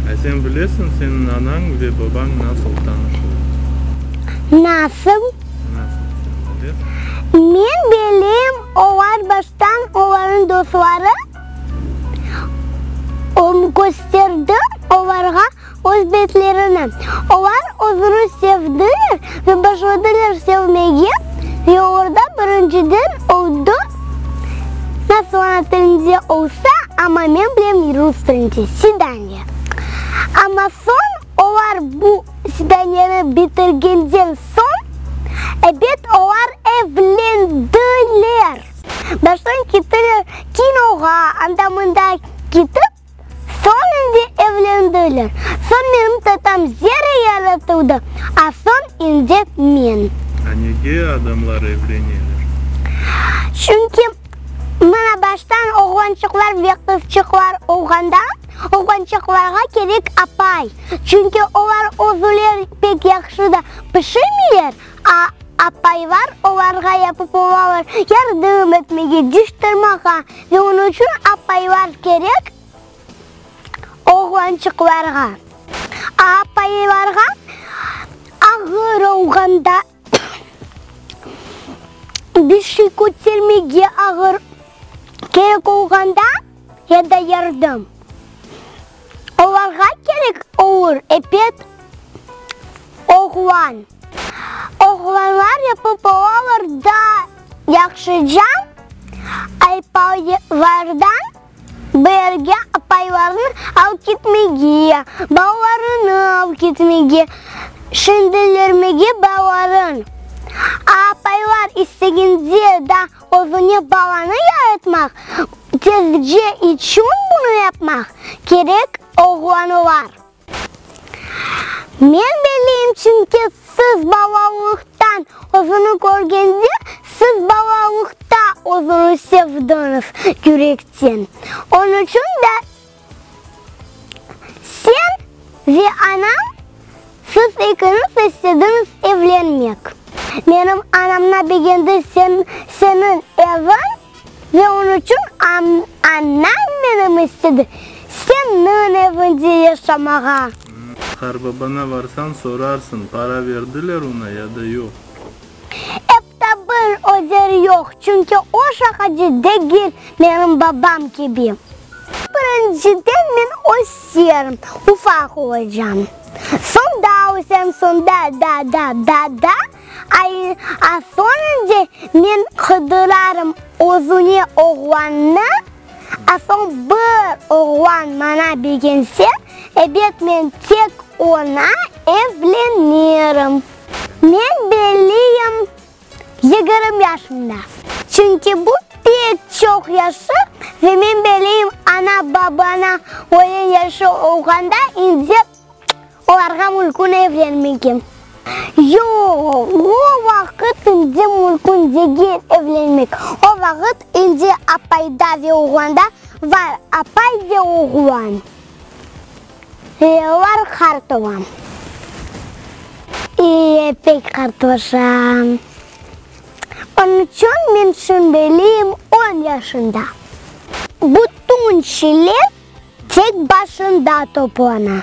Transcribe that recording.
A sen bilesiñ, seniñ anañ ve babañ nasıl tanışılar? Nasıl? Nasıl, sen bilesiñ? Men bileyim, olar baştan olarnıñ dostları öm kösterdi, olarğa Öz betlerini. Olar özüni sevdiler ve başladılar sevmege, ve orda birinciden oldı, nasıl ana tilinde olsa, amma men bilem rus tilinde, svidaniye. Amma soñ olar bu svidaniyeni bitirgenden soñ, ebet, olar evlendiler. Baştan kettiler kinoğa, anda-mında ketip, Soñ indi evlendiler. Soñ menim tatam zerre yaratıldı, a soñ indi men. A nege adamlar evleneler? Çünki mına baştan oğlançıqlar ve qızçıqlar olğanda, oğlançıqlarğa kerek apay. Çünki olar özüleri pek yahşı da pişirmeyler, A Apaylar olarğa yapıp olalar, yardım etmege, diş tırmağa, ve onıñ içün apaylar kerek oğlançıqlarğa. A Apaylarğa ağır olğanda, bir şey kötermege ağır kerek olğanda. ya da yardım, olarğa kerek olur epet oğlan. Oğlanlar yapıp olalar daa yahşı cam aypaylardan birge apaylarını alıp ketmege, balalarını alıp ketmege, şindelermege balaların. Apaylar istegende daa Özüne balanı yaratmaq, tercih içün bunı yapmaq kerek oğlanlar. Men beliyim, çünki siz balalıqtan özüni körgende, siz balalıqta özüni sevdiñiz yürekten. Onıçün de Sen ve anañ, siz ekiñiz istediñiz evlenmek. Menim anamna begendi seniñ eviñ ve onıñ içün anañ menim istedi seniñ eviñde yaşamağa. Qarbabanına varsañ, sorarsıñ, para verdiler oña ya da yoq. Da bir özer yoq, çünki o şaqacı degil, menim babam kibi. Birinciden men öz yerim ufaq olacam, soñ daa ösem, soñ da, da, da, da, da, a soñunca men qıdırarım özüne oğlannı, a soñ bir oğlan maña begense, ebet men tek oña evlenirim. Men belliyim, yigirmi yaşımda. Çünki bu pek çoq yaşı ve men belliyim, ana-babana öyle yaşı olğanda indi olarğa mülkün evlenmege. Yoq, o vaqıt indi mülkün degil evlenmek. O vaqıt indi apayda ve oğlanda var, apay ve oğlan. Yıllar qart olam. İye, pek qartlaşam. Onıñ içün men şimdiliyim on yaşında. Bütün şeyler tek başında toplana.